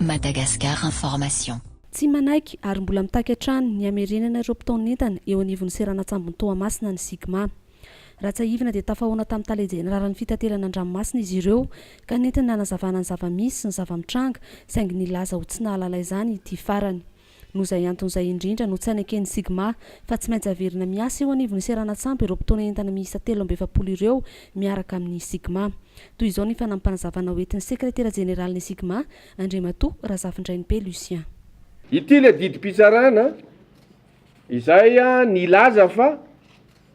Madagascar Information. Tsy manaiky ary mbola mitaky hatrany ny hamerenana ireo mpitaon'entana eo anivon'ny seranan-tsambon'i Toamasina ny Sigma. Raha tsiahivina dia tafahaona tamin'ny Tale Jeneralin'ny Fitaterana an-dranomasina izy ireo ka nentiny nanazavana ny zava-misy sy ny zava-mitranga saingy nilaza ho tsy nahalala izany ity farany. Noho izay antony izay indrindra no tsy haneken'ny Sigma fa tsy maintsy haverina miasa eo anivon'ny seranan-tsambo ireo mpitaona entana miisa telo amby efapolo ireo miaraka amin'ny Sigma. Toy izao ny fanampanazavana hoentin'ny Sekretera Jeneralin'ny Sigma, Andriamatoa Razafindrainibe Lucien. Ity ilay didim-pitsarana izay nilaza fa.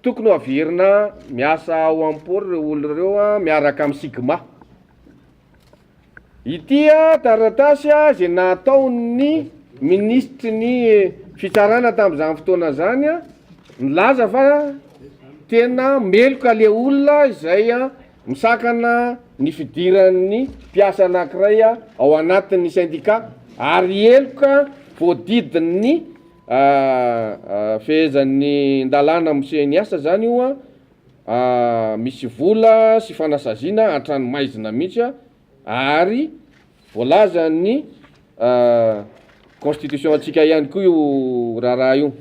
Tokony ho averina miasa ao amin'ny port ireo olona ireo miaraka amin'ny sigma. Ity taratasy izay nataon'ny minisitry ny fitsarana tamin'izany fotoana izany milaza fa tena meloka le olona izay misakana ny fidiran'ny mpiasa anankiray ao anatin'ny sendika ary heloka voadidin'ny Ahh fehezan'ny ndalàna moseh ny asa zany io an, ahh misy vola sy fanasaziana hatrany maizina mihitsy an, ary voalazan'ny ahh constitution antsika ihany koa io raharaha io,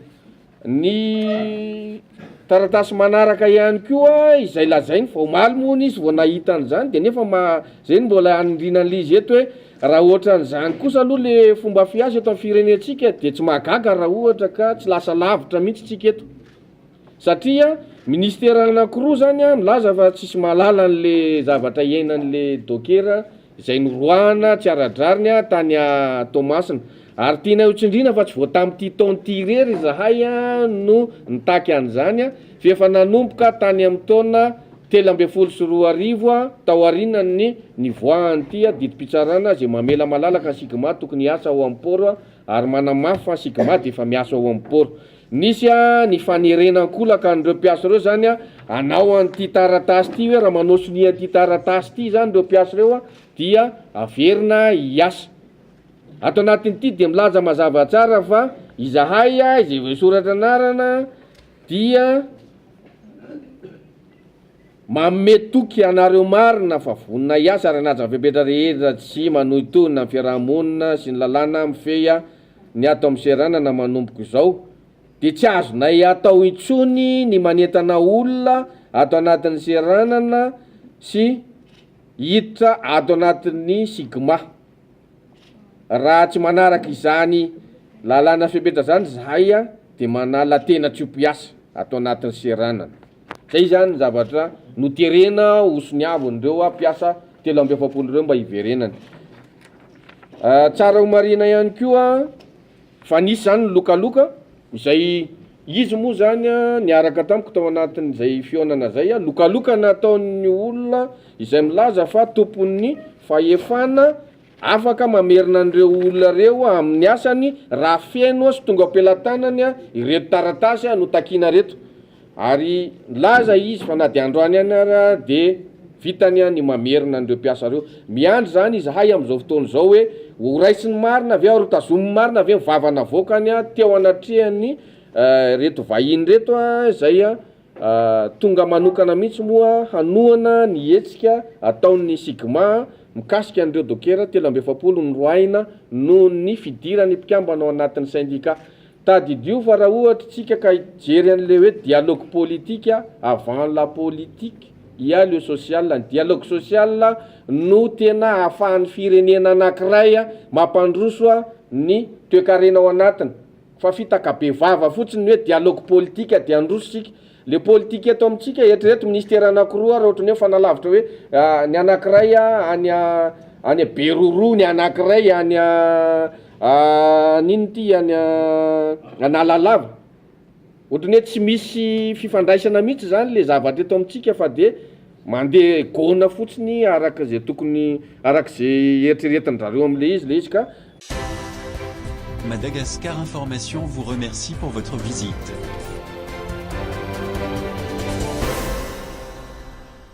ny Taratasy manaraka ihany koa izay lazainy fa omaly moa hono izy vao nahita an'izany dia nefa ma izay no mbola hanindriana an'ilay izy eto hoe raha ohatran'izany kosa aloha le fomba fiasa eto amin'ny firenentsika dia tsy mahagaga raha ohatra ka tsy lasa lavitra mihitsy tsika eto satria ministera anankiroa zany a milaza fa tsisy mahalala an'le zavatra iainan'le dokera izay noroahana tsy ara-drariny tany Toamasina, ary tianay ho tsindriana fa tsy vao tamin'ity taona ity irery izahay no nitaky an'izany fa efa nanomboka tany amin'ny taona telo ambin'ny folo sy roa arivo taorianan'ny nivoahan'ity didim-pitsarana izay mamela malalaka ny Sigma tokony hiasa ao amin'ny port ary manamafy fa ny Sigma dia efa miasa ao amin'ny port. Nisy ny fanerena an-kolaka an'ireo mpiasa ireo izany hanao an'ity taratasy ity hoe raha manao sonia an'ity taratasy ity izany ireo mpiasa ireo dia haverina hiasa. Ato anatin'ity dia milaza mazava tsara fa izahay izay voasoratra anarana dia manome toky anareo marina fa vonona hiasa ary hanaja ny fepetra rehetra tsy manohintohina ny fiaraha-monina sy ny lalàna mifehy ny ato amin'ny seranana manomboka izao dia tsy azonay atao intsony ny manentana olona ato anatin'ny seranana sy hiditra ato anatin'ny Sigma. Raha tsy manaraka izany lalàna fepetra izany izahay dia manala tena tsy ho mpiasa ato anatin'ny seranana. Izay izany ny zavatra noterena ho soniavin'ireo mpiasa telo amby efapolo ireo mba hiverenany. Tsara ho marihina ihany koa fa nisy zany ny lokaloka izay izy moa zany a niaraka tamiko tao anatin'izay fihaonana zay a lokaloka nataon'ny olona izay milaza fa tompon'ny fahefana afaka mamerina an'ireo olona ireo amin'ny asany raha feno sy tonga am-pelatanany ireto taratasy notakina reto Ary nilaza izy fa na dia androany ihany ara dia vitany ny mamerina an'ireo mpiasa ireo. Miandry izany izahay amin'izao fotoana izao hoe ho raisin'ny marina ve ary ho tazomin'ny marina ve ny vava navoakany teo anatrehan'ny ireto vahiny ireto izay tonga manokana mihitsy moa hanohana ny hetsika ataon'ny Sigma mikasika an'ireo dokera telo amby efapolo noroahina noho ny fidiran'ny mpikambana ao anatin'ny sendika Tadidio fa raha ohatra tsika ka hijery an'le hoe dialogue politique avant la politique il ya le social, ny dialogue social no tena ahafahan'ny firenena anakiray mampandroso ny toekarena ao anatiny fa fitaka bevava fotsiny ny hoe dialogue politique dia handroso tsika Le politique eto amintsika eritrereto ministère anakiroa raha ohatry ny hoe fanalavitra hoe ny anakiray any any Beroroa ny anakiray any any inona ity any Analalava ohatry ny hoe tsy misy fifandraisana mihitsy zany le zavatra eto amintsika fa de Mandeha gôna fotsiny araka izay tokony araka izay eritreretin-drareo amin'ilay izy ilay izy ka. Madagascar Information vous remercie pour votre visite.